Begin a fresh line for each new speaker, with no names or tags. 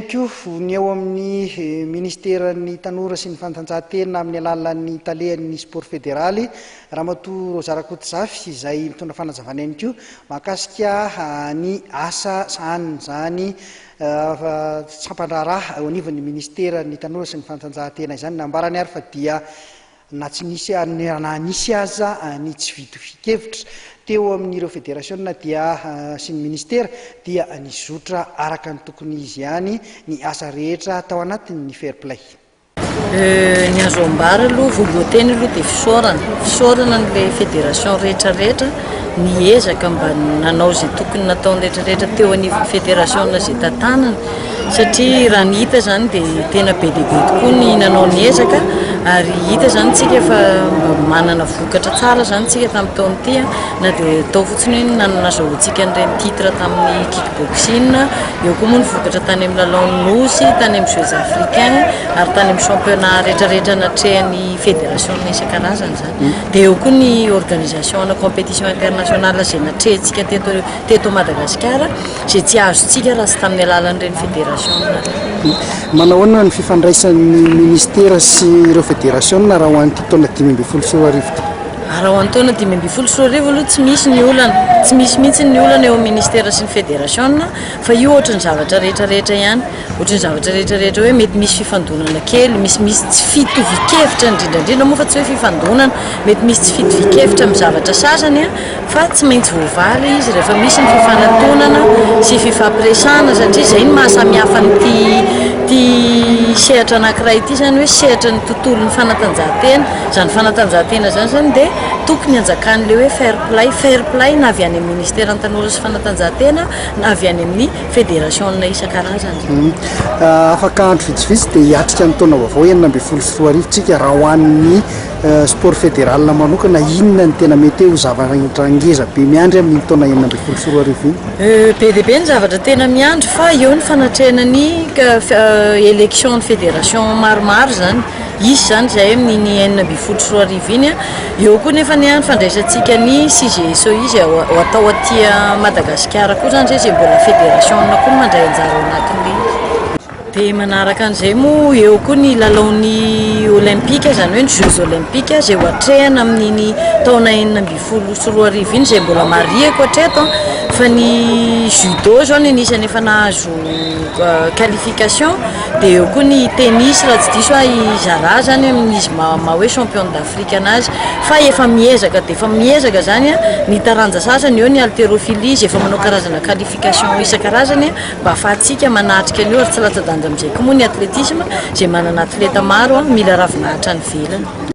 Miankoho ny eo amin'ny Ministeran'ny Tanora sy ny Fanatanjahantena amin'ny alalan'ny Talehan'ny Sport Federaly, Ramatoa Rosa Rakotozafy, izay mitondra fanazavana ihany koa mahakasika ny asa sahanin'izany sampan-draharaha eo anivon'ny Ministeran'ny Tanora sy ny Fanatanjahantena izany. Nambarany ary fa dia na tsy misy ary na nisy aza ny tsy fitovian-kevitra teo amin'ireo federasiona dia sy ny minisitera dia nizotra araka ny tokony izy ihany ny asa rehetra tao anatin'ny Fair Play.
Ny azo ambara aloha, voalohan-teny aloha dia fisaorana. Fisaorana an'ilay federasiona rehetra rehetra niezaka mba nanao izay tokony nataony rehetra rehetra teo anivon'ny federasiona izay tantanany satria raha ny hita izany dia tena be dia be tokoa ny nanao ny ezaka ary hita izany tsika fa mba manana vokatra tsara izany tsika tamin'ny taona ity na dia atao fotsiny hoe nanazahoantsika an'ireny titre tamin'ny kickboxing eo koa moa ny vokatra tany amin'ny lalaon'ny nosy tany amin'ny jeux africains ary tany amin'ny championnat rehetra rehetra natrehan'ny federasiona isan-karazany izany Dia eo koa ny organisation ana competition internationale izay natrehintsika teto teto Madagasikara izay tsy azontsika raha tsy tamin'ny alalan'ireny federation ireny.
Manao ahoana ny fifandraisan'ny ministera sy ireo federasiona raha ho an'ity taona dimy ambin'ny folo sy roa arivo ity? Ah, raha ho an'ny
taona dimy ambin'ny folo sy roa arivo aloha tsy misy ny olana, tsy misy mihitsy ny olana eo amin'ny ministera sy ny federasiona fa io ohatry ny zavatra rehetra rehetra ihany. Ohatry ny zavatra rehetra rehetra hoe mety misy fifandonana kely, misy misy tsy fitovian-kevitra, indrindra indrindra moa fa tsy hoe fifandonana, mety misy tsy fitovian-kevitra amin'ny zavatra sasany fa tsy maintsy voavaly izy rehefa misy ny fifanatonana sy fifampiresahana satria izay no maha samy hafa an'ity ity sehatra anankiray ity izany hoe sehatry ny tontolon'ny fanatanjahantena, izany fanatanjahantena izany izany dia tokony hanjakan'ilay hoe fair play, fair play na avy any amin'ny ministeran'ny tanora sy fanatanjahantena na avy any amin'ny federasiona isan-karazany. Afaka
andro vitsivitsy dia hiatrika ny taona vaovao enina ambin'ny folo sy roa arivo tsika raha ho an'ny sport federal manokana inona ny tena mety ho zavatra ngeza be miandry amin'iny taona enina ambin'ny folo sy roa arivo iny? Be dia be
ny zavatra tena miandry fa eo ny fanatrehana ny elections ny federation maromaro izany. Hisy izany izahay amin'iny enina ambin'ny folo sy roa arivo iny. Eo koa nefa anie ny fandraisantsika ny CGSO izay atao aty Madagasikara koa izany izay izay mbola federation-na koa no mandray anjara ao anatin'iny. Dia manaraka an'izay moa eo koa ny lalaon'ny Olympique izany hoe ny Jeux Olympiques izay ho atrehina amin'iny taona enina ambin'ny folo sy roa arivo iny izay mbola marihiko hatreto fa ny Judo izao no anisany efa nahazo qualification. Dia eo koa ny tennis raha tsy diso aho i Zara izany amin'ny izy maha maha hoe championne d'Afrique anazy fa efa miezaka dia efa miezaka izany an ny taranja sasany eo ny haltérophilie izay efa manao karazana qualification isan-karazany an mba afahantsika manatrika an'io ary tsy latsa-danja amin'izay koa moa ny athlétisme izay manana athleta maro an mila ravinahitra any ivelany.